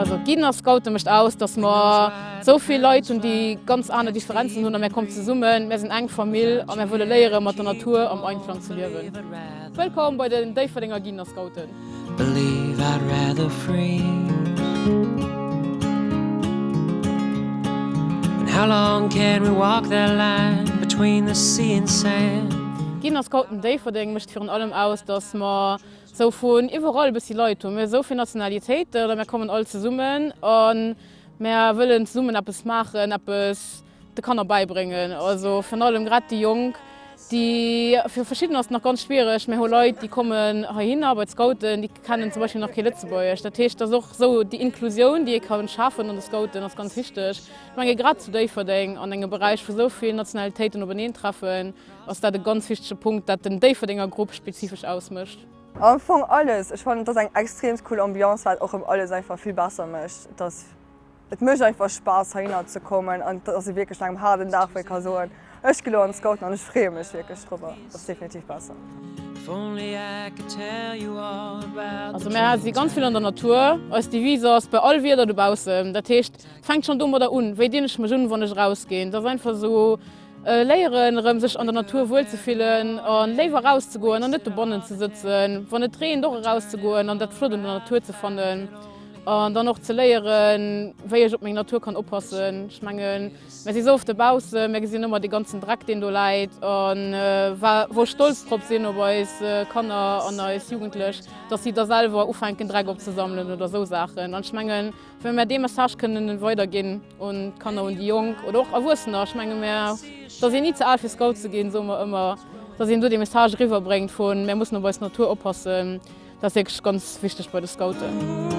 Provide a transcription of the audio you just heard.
Also d'Gidden a Scoute mécht aus, datt mer esou vill Leit hunn, déi ganz aner Differenzen hunn a mär kommen zesummen, mär sinn eng Famill a mär wëlle léieren, mat der Natur am Einklang ze liewen. Wëllkomm bei den Déifferdenger Gidden a Scouten! Virun allem aus, dass mer esou vun iwwerall e bëssi Leit hunn. Mir hu esou vill Nationalitéiten oder mir kommen all zesummen a mir wëllen zesummen eppes maachen, eppes de Kanner bäibréngen. Also virun allem grad déi Jonk, déi, fir verschidden ass et nach ganz schwiereg, mir hu Leit, déi kommen heihinner bei d'Scouten, déi kennen zum Beispill nach kee Lëtzebuergesch. Dat heescht, dass och esou déi Inklusioun, déi ee ka schafen an de Scouten, ass ganz wichteg. Ech menge grad zu Déifferdeng an engem Beräich, wou esou vill Nationalitéiten openeentreffen, Ass dat e ganz wichtege Punkt, dat den Déifferdenger Grupp spezifesch ausmécht? Am Fong alles. Ech fannen et ass eng extrem cool Ambiance, wat och rëm alles einfach vill besser mécht. Et ass, et mécht einfach Spaass heihinner ze kommen an et ass ee wierklech no engem haarden Dag, wou ee ka soen, ech gi elo an d'Scouten an ech freeë mech wierklech driwwer. Et ass definitiv besser. Also mär si ganz vill an der Natur. Eis Devise ass, bei all Wieder dobaussen. Dat heescht, fänkt schonn domadder un, wéi dinn ech mech un, wann ech erausginn. Et ass einfach esou. Léieren erëm sech an der Natur wuel ze fillen a léiwer eraus ze goen an net dobannen ze sëtzen. Wann et reent och eraus ze goen an dat flott un der Natur ze fannen. An dann och ze léieren wéi ech op meng Natur kann oppassen. Ech mengen mer si sou oft dobaussen, mer gesinn ëmmer dee ganzen Dreck deen do läit an wou ech stolz drop sinn op eis Kanner an eis Jugendlech, datt si da selwer ufänken Dreck opzesammelen oder sou Saachen. An ech mengen. Well mär dee Message kënnen weiderginn un d'Kanner, un déi Jonk oder och Erwuessener. Ech menge mär, et ass een ni ze al fir Scout ze ginn, soe mer ëmmer, dass een do dee Message eriwwer bréngt vu mär mussen op eis Natur oppassen. Dat ass wierklech ganz wichteg bei de Scouten.